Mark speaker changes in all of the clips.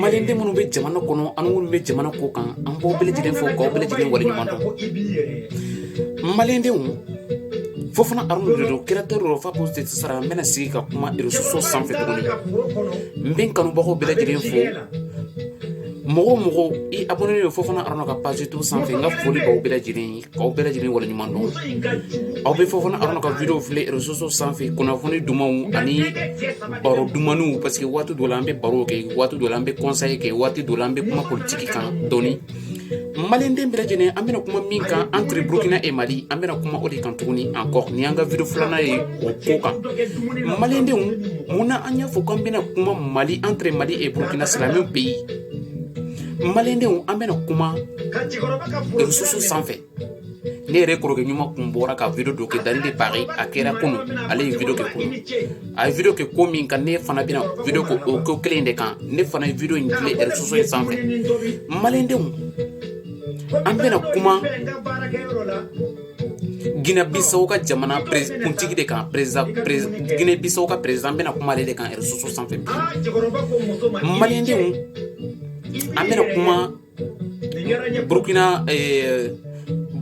Speaker 1: maliyɛn den minnu bɛ jamana kɔnɔ ani minnu bɛ jamana kɔkan an b'aw bɛɛ lajɛlen fo k'aw bɛɛ lajɛlen waleɲuman dɔn maliyɛn denw Fofana Aruna de don kɛrɛtɛ dɔ fa ko tɛ sara n bɛna sigi ka kuma réseaux sociaux sanfɛ tuguni n bɛ n kanubagaw bɛɛ lajɛlen fo mɔgɔ o mɔgɔ i abonné don Fofana Aruna ka page to sanfɛ n ka foli b'aw bɛɛ lajɛlen ye Aw bɛɛ lajɛlen wale ɲuman dɔn aw bɛ Fofana aw ka video filɛ réseaux sociaux sanfɛ kunnafoni dumanw ani baro duman parce que waati dɔ an bɛ baro kɛ waati dɔ an bɛ conseil kɛ waati dɔ an bɛ kuma politigi kan donc maliyɛn den bɛɛ lajɛlen an bɛna kuma min kan entre burukina et mali an bɛna kuma o de kan tuguni an kɔni an ka video filanan ye o ko kan maliyɛn denw mun na an y'a fɔ ko an bɛna kuma mali entre mali et burukina c'est la même pays maliyɛn denw an bɛna kuma réseaux sociaux sanfɛ ne yɛrɛ kɔrɔkɛ ɲuman kun bɔra ka video dɔ kɛ Dani de Paris a kɛra kunu ale ye video kɛ kunu a ye video kɛ ko min kan ne fana bɛna video kɛ o ko kelen de kan ne fana ye video in filɛ réseaux sociaux in sanfɛ maliyɛn denw an bɛna kuma ginɛbisaw ka jamana kuntigi de kan ginɛbisaw ka perezidan an bɛna kuma ale de kan réseaux sociaux sanfɛ maliyɛn denw an bɛna kuma burukina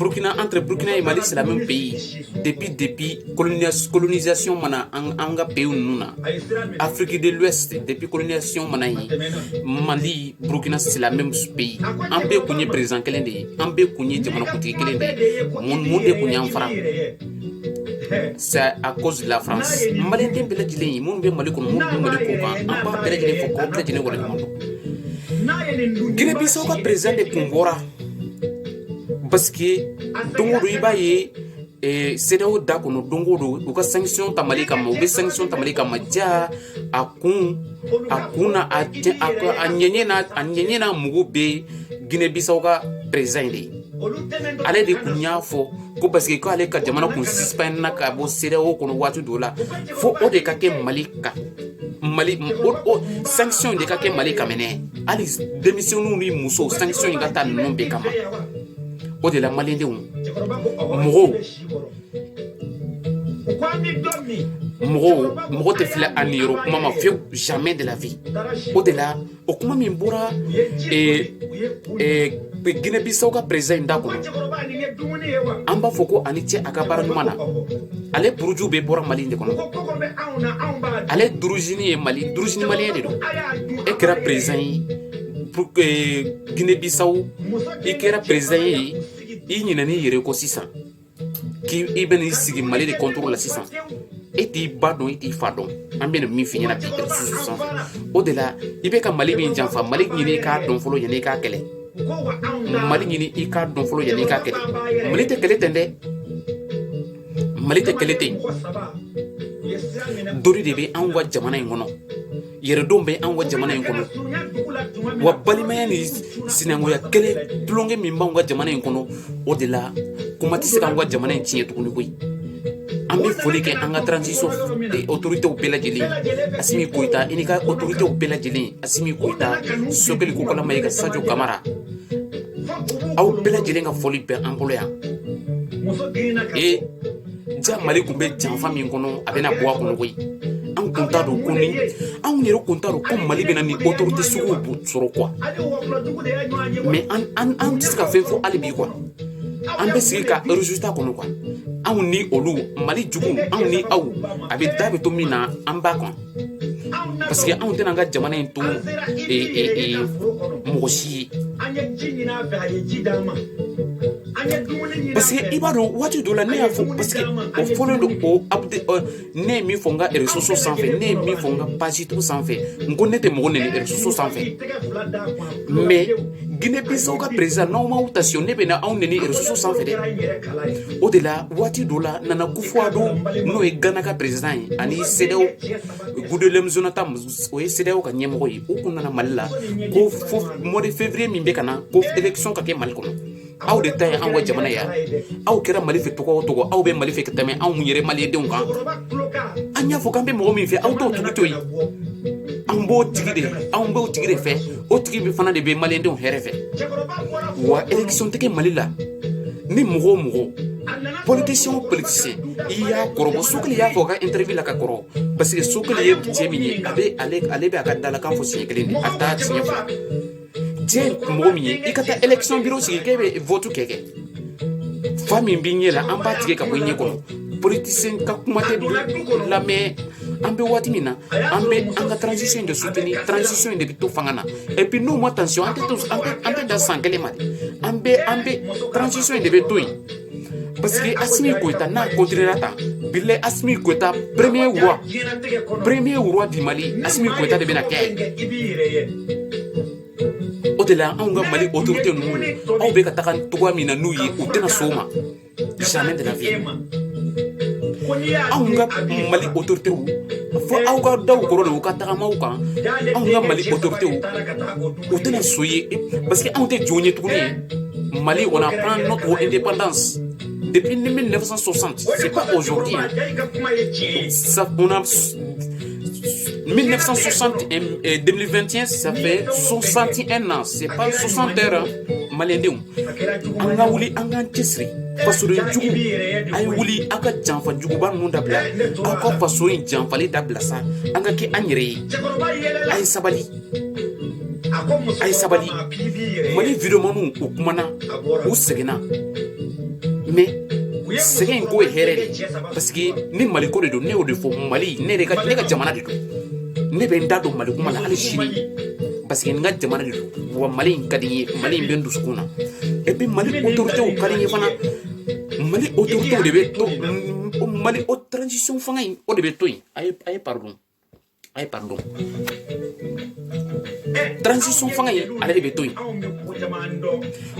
Speaker 1: burukina entre burukina et mali c'est la même pays depuis depuis colonisation ma na an ka peyi ninnu na afiriki de depuis colonisation ma na ye mali burukina c'est la même pays an bɛɛ kun ye perezidan kelen de ye an bɛɛ kun ye jamanakuntigi kelen de ye mun mun de kun y'an fara c'est à cause de la france malien den bɛɛ lajɛlen ye minnu bɛ mali kɔnɔ minnu bɛ mali kɔkan an b'aw bɛɛ lajɛlen fo k'aw bɛɛ lajɛlen waleɲuman dɔn guinée bissau ka perezidan de kun bɔra parce que don o don i b'a ye CEDEAO da kɔnɔ don o don u ka sanction ta mali kama u bɛ sanction ta mali kama jaa a kun a kun na a a ɲɛ a ɲɛnamɔgɔ bɛ ginɛ bisaw ka perezidan in de ye ale de tun y'a fɔ ko parce que k' ale ka jamana kun sispanna ka bɔ CEDEAO kɔnɔ waati dɔ la fo o de ka kɛ mali kan mali sanction de ka kɛ mali ka minɛ hali denmisɛnninw ni muso sanction in ka taa ninnu bɛɛ kama o de la maliyɛn denw mɔgɔw mɔgɔw mɔgɔ tɛ fili a niyɔrɔ kuma ma fiyewu jamais de la vie o de la o kuma min bɔra Guinée Bissau ka président in da kɔnɔ an b'a fɔ ko a ni ce a ka baara ɲuman na ale buruju bɛɛ bɔra Mali de kɔnɔ ale d'origine ye Mali d'origine maliyɛn de don e kɛra président ye Pour que Guinée Bissau i kɛra président ye i ɲinɛna i yɛrɛ kɔ sisan k'i i bɛna i sigi Mali de contrôle la sisan e t'i ba dɔn e t'i fa dɔn an bɛna min f'i ɲɛna réseaux sociaux sanfɛ o de la i bɛ ka Mali min janfa Mali ɲini i k'a dɔn fɔlɔ yanni i k'a kɛlɛ Mali ɲini i k'a dɔn fɔlɔ yanni i k'a kɛlɛ Mali tɛ kɛlɛ tɛ dɛ Mali tɛ kɛlɛ tɛ yen dori de bɛ anw ka jamana in kɔnɔ yɛrɛdɔn bɛ an ka jamana in kɔnɔ wa balimaya ni sinankunya kelen tulonkɛ min b'an ka jamana in kɔnɔ o de la kuma tɛ se k'an ka jamana in tiɲɛ tuguni koyi an bɛ foli kɛ an ka transition otoritew bɛɛ lajɛlen asimi koyita i n'i ka otoritew bɛɛ lajɛlen asimi koyita sokɛli kokala mayiga sajo kamara aw bɛɛ lajɛlen ka foli bɛ an bolo yan ee ja mali tun bɛ janfa min kɔnɔ a bɛna bɔ a kɔnɔ koyi an kun t'a dɔn ko ni anw yɛrɛ kun t'a dɔn ko mali bɛna ni autorité suguw sɔrɔ quoi mais an an an tɛ se ka fɛn fɔ hali bi quoi an bɛ sigi ka résultat kɔnɔ quoi anw ni olu mali juguw anw ni aw a bɛ da bɛ to min na an b'a kɔnɔ parce que anw tɛna an ka jamana in to mɔgɔ si ye parce que i b'a dɔn waati dɔ la ne y'a fɔ parce que o fɔlen don o update euh, ne ye min fɔ n ka réseaux sociaux sanfɛ ne ye min fɔ n ka page tout sanfɛ n ko ne tɛ mɔgɔ nɛni réseaux sociaux sanfɛ mais Guinée Bissau ka président n'aw m'aw taasi ne bɛna aw nɛni réseaux sociaux sanfɛ dɛ o de la waati dɔ la Nana Akufo-Addo n'o ye gana ka président ye ani CEDEAO Goodluck Jonathan o ye CEDEAO ka ɲɛmɔgɔ ye u tun nana mali la ko fo mois de février min bɛ ka na ko élection ka kɛ mali kɔnɔ aw de ta ye an ka jamana ye wa aw kɛra mali fɛ tɔgɔ tɔgɔ aw bɛ mali fɛ ka tɛmɛ anw yɛrɛ malidenw kan an y'a fɔ k'an bɛ mɔgɔ min fɛ aw b'o tigi to yen an b'o tigi de anw b'o tigi de fɛ o tigi bɛ fana de bɛ malidenw hɛrɛ fɛ wa élection tɛ kɛ mali la ni mɔgɔ o mɔgɔ politicien o politicien i y'a kɔrɔbɔ sokɛli y'a fɔ ka interview la ka kɔrɔ parce que sokɛli ye cɛ min ye a bɛ ale bɛ a ka dalakan fɔ siɲɛ kelen a taa tiɲɛ fɔ diɲɛ mɔgɔ min ye i ka taa élection bureau sigi k'e bɛ vote kɛ kɛ fa min b'i ɲɛ la an b'a tigɛ ka bɔ i ɲɛ kɔnɔ politisiyɛn ka kuma tɛ lamɛn an bɛ waati min na an bɛ an ka transition de soutenir transition de bɛ to fanga na et puis n'u ma attention an tɛ to an tɛ an tɛ dan san kelen ma dɛ an bɛ an bɛ transition de bɛ to yen parce que asimi koyita n'a continuera tan bilayi asimi koyita premier roi premier roi du mali asimi koyita de bɛna kɛ o de la anw ka mali autorité ninnu aw bɛ ka taga cogoya min na n'u ye u tɛna s'o ma jamais de la vie anw ka mali autorité fo aw ka daw kɔrɔ de u ka tagamaw kan anw ka mali autorité u tɛna so ye parce que anw tɛ jɔn ye tuguni mali on a prend notre indépendance depuis 1960 c'est pas aujourd'hui ça on a 1960 à 2021, euh, ça fait 61 ans. C'est pas 60 heures, hein. Maliyɛndenw. An ka wuli an k'an cɛsiri. Fasoden jugu, a ye wuli aw ka janfa juguba ninnu dabila. Aw ka faso in janfali dabila sa. An ka kɛ an yɛrɛ ye. A ye sabali. a ye sabali mali videomaniw u kumana u sɛgɛnna mais sɛgɛn in kɔ ye hɛrɛ de parce que ni mali ko de don ne y'o de fɔ mali ne ka ne ka jamana de don ne bɛ n da don mali kuma la hali sini parce que n ka jamana de don wa mali in ka di n ye mali in bɛ n dusukun na et puis mali autoritéw ka di n ye fana mali autoritéw de bɛ to mali o transition fanga in o de bɛ to yen a ye a ye pardon Ay, pardon. Transition fanga in ale de bɛ to yen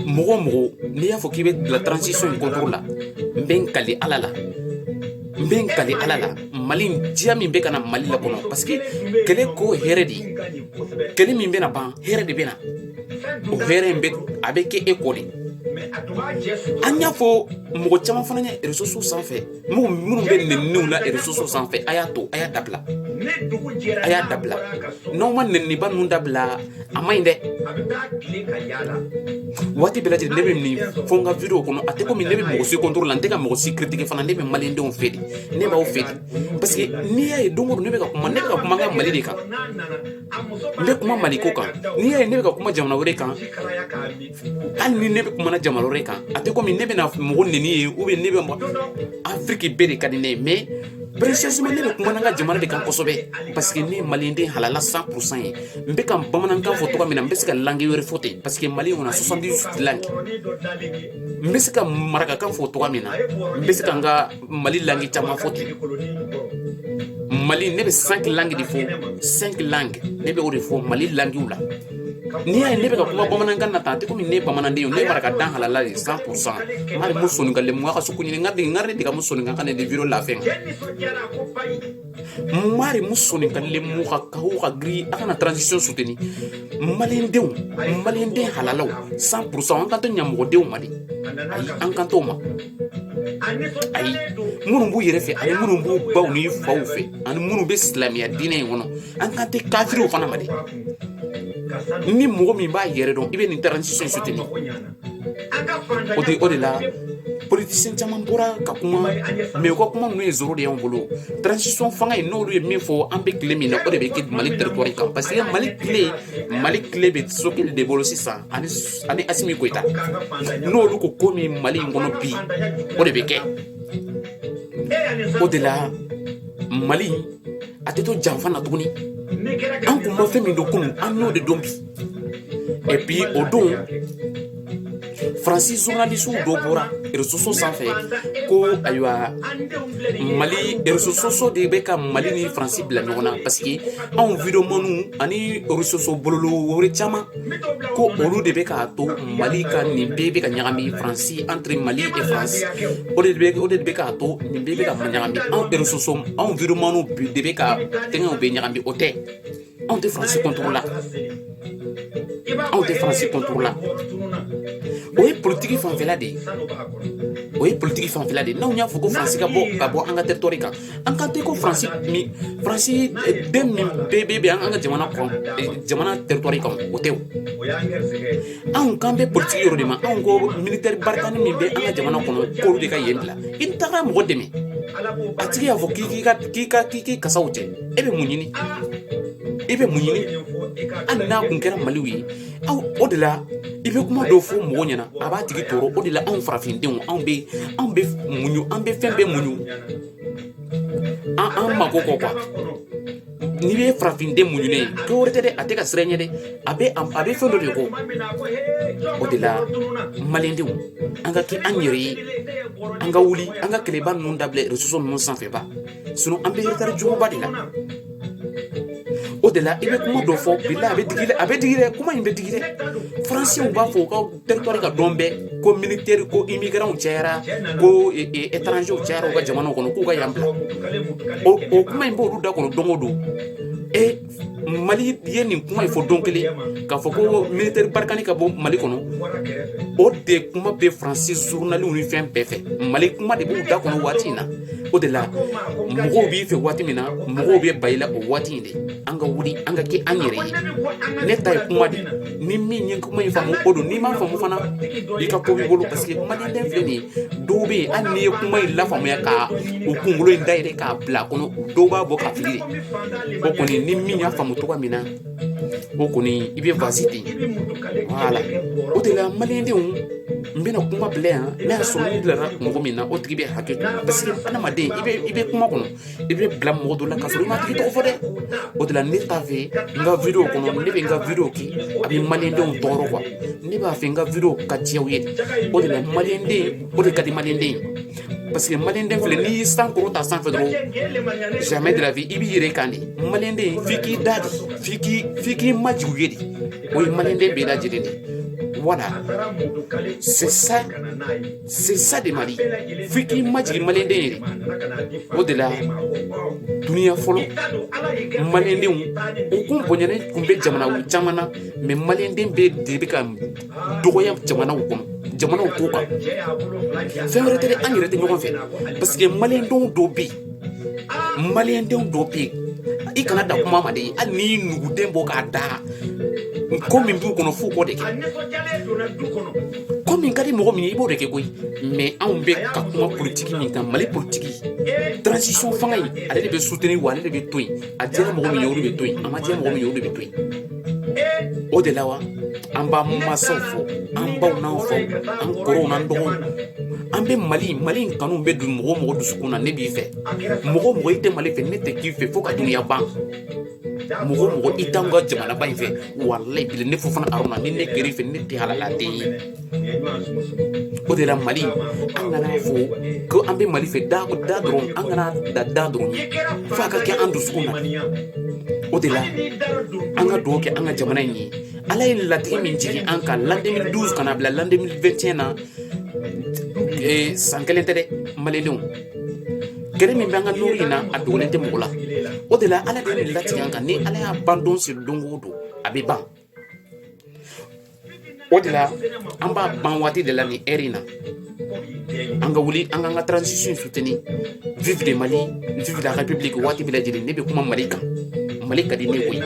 Speaker 1: mɔgɔ o mɔgɔ n'i y'a fɔ k'i bɛ bila transition in contre la n bɛ n kali ala la n bɛ n kali ala la mali diya min bɛ ka na mali la kɔnɔ parce que kɛlɛ kɔ hɛrɛ de ye kɛlɛ min bɛna ban hɛrɛ de bɛ na o hɛrɛ in bɛ a bɛ kɛ e kɔ de an y'a fɔ mɔgɔ caman fana ye réseaux sanfɛ Mɔgɔ minnu bɛ nɛniw na réseau sanfɛ a y'a to a y'a dabila a y'a dabila n'aw ma nba ninnu dabila a man ɲi dɛ waati bɛɛ lajɛlen ne bɛ nin fɔ n ka vidéo kɔnɔ a tɛ komi ne bɛ mɔgɔ si contre la n tɛ ka mɔgɔ si critiqué fana ne bɛ malidenw fɛ ne b'aw fɛ parce que n'i y'a ye don ne bɛ ka kuma ne ka kuma n ka mali de kan n bɛ kuma mali ko kan n'i ye ne bɛ ka kuma jamana wɛrɛ kan hali ni ne bɛ kuma na jamana wɛrɛ kan a tɛ komi ne bɛna mɔgɔ nɛni ye ou bien ne bɛ mɔgɔ afiriki bɛɛ de ka di ne ye mais précisément ne bɛ kuma na n ka jamana de kan kosɛbɛ parce que ne ye maliyɛnden halala 100 pour cent ye n bɛ ka bamanankan fɔ cogo min na n bɛ se ka langue wɛrɛ fɔ ten parce que mali kɔnɔ 78 langue n bɛ se ka marakakan fɔ cogo min na n bɛ se ka n ka mali langue caman fɔ ten mali ne bɛ cinq langues de fɔ cinq langues ne bɛ o de fɔ mali languew la n'i y'a ye ne bɛ ka kuma bamanankan na tan a tɛ komi ne ye bamananden ye ne marakaden halala de 100 pour cent n ka soninkan lenmu ya ka so ko ɲini n ka de n ka de ka mun soninkan kanne de lafiya maarenmu sooninkanlenmu xa kaw xa giri a xa na transition suteni malidenw maliden halalaw cent pourcent an kan t'o ɲamɔgɔdenw ma dɛ ayi an kan t'o ma ayi minnu b'u yɛrɛ fɛ ani minnu b'u baw ni faw fɛ ani minnu bɛ silamɛya diinɛ in kɔnɔ an kan tɛ kafiriw fana ma dɛ ni mɔgɔ min b'a yɛrɛ dɔn i bɛ nin transition suteni O tɛ o de la politicien caman bɔra ka kuma mɛ ka kuma minnu ye sɔrɔ de y' bolo psi fanga ye n'olu ye min fɔ an bɛ tile min na o de bɛ kɛ mali terre kan parce que mali kile mali kile bɛ choguel de bolo sisan ani ani assimi goita n'olu ko ko min mali in kɔnɔ bi o de bɛ kɛ o de la mali a tɛ to janfa na tuguni an tun ma fɛn min dɔn kunun an n'o de dɔn bi et puis o don faransi zurunalisiw dɔ bɔra resoso sanfɛ ko ayiwa mali resoso de bɛ ka mali ni faransi bila ɲɔgɔn na parce que anw videomaniw ani resoso bɔlɔlɔ wɛrɛ caman ko olu de bɛ k'a to mali ka nin bɛɛ bɛ ka ɲagami faransi entre mali et france o de bɛ o de bɛ k'a to nin bɛɛ bɛ ka ɲagami anw resoso anw videomaniw de bɛ ka tɛgɛw bɛɛ ɲagami o tɛ anw tɛ faransi kɔntoro la anw tɛ faransi kɔntoro la o ye politiki fanfɛla de ye o ye politiki fanfɛla de ye n'anw y'a fɔ ko faransi ka bɔ ka bɔ an ka tɛritɔri kan an kan tɛ ko faransi ni faransi den min bɛɛ bɛ an ka jamana kɔn jamana tɛritɔri kan o tɛ o anw kan bɛ politiki yɔrɔ de ma anw ko militɛri barikani min bɛ an ka jamana kɔnɔ k'olu de ka yen bila i taara mɔgɔ dɛmɛ a tigi y'a fɔ k'i ka k'i ka k'i ka sakiw cɛ e bɛ mun ɲini e bɛ mun ɲini hali n'a tun kɛra maliw ye aw o de la i bɛ kuma dɔw fɔ mɔgɔ ɲɛna a b'a tigi tɔɔrɔ o de la anw farafindenw anw bɛ anw bɛ muɲu an bɛ fɛn bɛɛ muɲu an an mako kɔ quoi n'i bɛ farafinden muɲunen ye dɔ wɛrɛ tɛ dɛ a tɛ ka siran ɲɛ dɛ a bɛ a bɛ fɛn dɔ de kɔ o de la malidenw an ka kɛ an yɛrɛ ye an ka wuli an ka kɛlɛba ninnu dabila reseau ninnu sanfɛ ba sinɔn an bɛ eretari juguba de la o de la i bɛ kuma dɔ fɔ bila a bɛ digi dɛ a bɛ digi dɛ kuma in bɛ digi dɛ faransɛw b'a fɔ u ka teritɔri kan don bɛɛ ko militɛri ko imigirantw cayara ko etranzew cayara u ka jamanaw kɔnɔ k'u ka yan bila o kuma in b'olu da kɔnɔ don o don e mali ye nin kuma in fɔ don kelen k'a fɔ ko militɛri barikani ka bɔ mali kɔnɔ o de kuma bɛ faransi zurunaliw ni fɛn bɛɛ fɛ mali kuma de b'u da kɔnɔ waati in na o de la mɔgɔw b'i fɛ waati min na mɔgɔw bɛ ban i la o waati in de an ka wuli an ka kɛ an yɛrɛ ye ne ta ye kuma de ni min ye kuma in faamu o don n'i m'a faamu fana i ka ko b'i bolo parce que maliden filɛ nin ye dɔw bɛ yen hali n'i ye kuma in lafaamuya ka o kunkolo in dayɛlɛ k'a bila a kɔnɔ dɔw b'a bɔ ka fili de o kɔni ni min y'a faamu cogoya min na o kɔni i bɛ vas-y ten voilà o de la malidenw n bɛna kuma bila yan n'a y'a sɔrɔ n bilara mɔgɔ min na o tigi bɛ hakɛ to parce que adamaden i bɛ i bɛ kuma kɔnɔ i bɛ bila mɔgɔ dɔ la ka sɔrɔ i m'a tigi tɔgɔ fɔ dɛ o de la ne t'a fɛ n ka video kɔnɔ ne bɛ n ka video kɛ a bɛ malidenw tɔɔrɔ quoi ne b'a fɛ n ka video ka diya aw ye o de la maliyɛnden o de ka di maliyɛnden ye parce que mali den filɛ n'i y'i sankɔrɔta sanfɛ dɔrɔn jamais de la vie i b'i yɛrɛ kan de mali den f'i k'i da de f'i k'i f'i k'i majigin a ye de o ye mali den bɛɛ lajɛlen de voilà c'est ça c'est ça de mali f'i k'i majigin mali den ye de o de la duniya fɔlɔ mali denw u kun bonyalen tun bɛ jamana caman na mais mali den bɛɛ de bɛ ka dɔgɔya jamanaw kɔnɔ jamanaw kɔkan fɛn wɛrɛ tɛ an yɛrɛ tɛ ɲɔgɔn fɛ parce que maliyɛndenw dɔw bɛ yen maliyɛndenw dɔw bɛ yen i kana da kuma ma de ye hali n'i y'i nuguden bɔ k'a da ko min b'u kɔnɔ f'u k'o de kɛ ko min ka di mɔgɔ min ye i b'o de kɛ koyi mais anw bɛ ka kuma politiki min kan mali politiki transition fanga ye ale de bɛ soutenir wa ale de bɛ to yen a diyara mɔgɔ min ye olu bɛ to yen a ma diya mɔgɔ min ye olu bɛ to yen o de la wa an b'an mansaw fo an baw n'an faw an kɔrɔw n'an dɔgɔw an bɛ mali mali in kanu bɛ don mɔgɔ o mɔgɔ dusukun na ne b'i fɛ mɔgɔ o mɔgɔ i tɛ mali fɛ ne tɛ k'i fɛ fo ka dunuya ban mɔgɔ o mɔgɔ i t'anw ka jamana ba in fɛ walayi bilayi ne fofana aruna ni ne kɛra i fɛ ne tɛ halala den ye o de la mali an kan'a fɔ ko an bɛ mali fɛ da la dɔrɔn an kana da da dɔrɔn fo a ka kɛ an dusukun na o de la an ka dugawu kɛ an ka jamana in ye ala ye latigɛ min jigin an kan l'an 2012 ka na bila l'an 2021 na eh, san kelen tɛ dɛ malidenw guerre min bɛ an ka nɔri in na a dogolen tɛ mɔgɔ la o de la ala de ye nin latigɛ an kan ni ala y'a ban don sigi don o don a bɛ ban o de la an b'a ban waati de la nin heure in na an ka wuli an k'an ka transition soutenir vive le mali vive la république waati bɛɛ lajɛlen ne bɛ kuma mali kan mali ka di ne koyi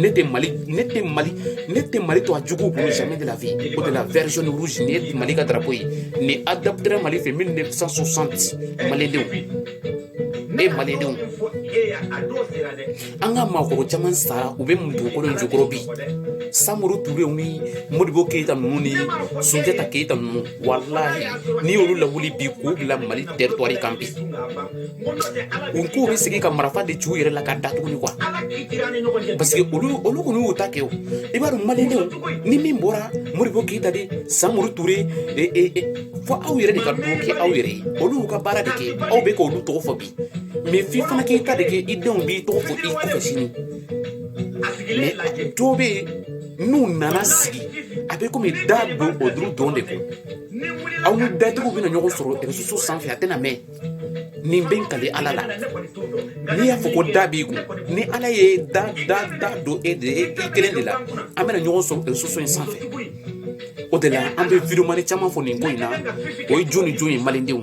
Speaker 1: ne tɛ mali ne tɛ mali ne tɛ mali to a juguw bolo jamais de la vie o de la vert jaune rouge nin ye mali ka drapeau ye nin adoptera mali fɛ 1960 malidenw ne ye malidenw an ka maakɔrɔ caman sara u bɛ mun dugukolo in jukɔrɔ bi samori turew ni modibo keyita ninnu ni sunjata keyita ninnu walahi n'i y'olu lawuli bi k'u bila mali teritwari kan bi u k'u bɛ segin ka marafa de ci u yɛrɛ la ka da tuguni quoi parce que olu olu kɔni y'u ta kɛ o i b'a dɔn malidenw ni min bɔra modibo keyita de samori ture fo aw yɛrɛ de ka duwawu kɛ aw yɛrɛ ye olu y'u ka baara de kɛ aw bɛ k'olu tɔgɔ fɔ bi mais f'i fana k'i ta de kɛ i denw b'i tɔgɔ fɔ i kɔfɛ sini mais dɔ bɛ yen n'u nana sigi a bɛ komi da don olu dɔrɔn de kun aw ni datigiw bɛna ɲɔgɔn sɔrɔ reseau sanfɛ a tɛna mɛn ne bɛ kali ala la n'i y'a fɔ ko da b'i kun ni ala ye da da da don e de e kelen de la an bɛna ɲɔgɔn sɔrɔ reseau in sanfɛ o de la an bɛ videomani caman fɔ nin ko in na o ye jɔn ni jɔn ye malidenw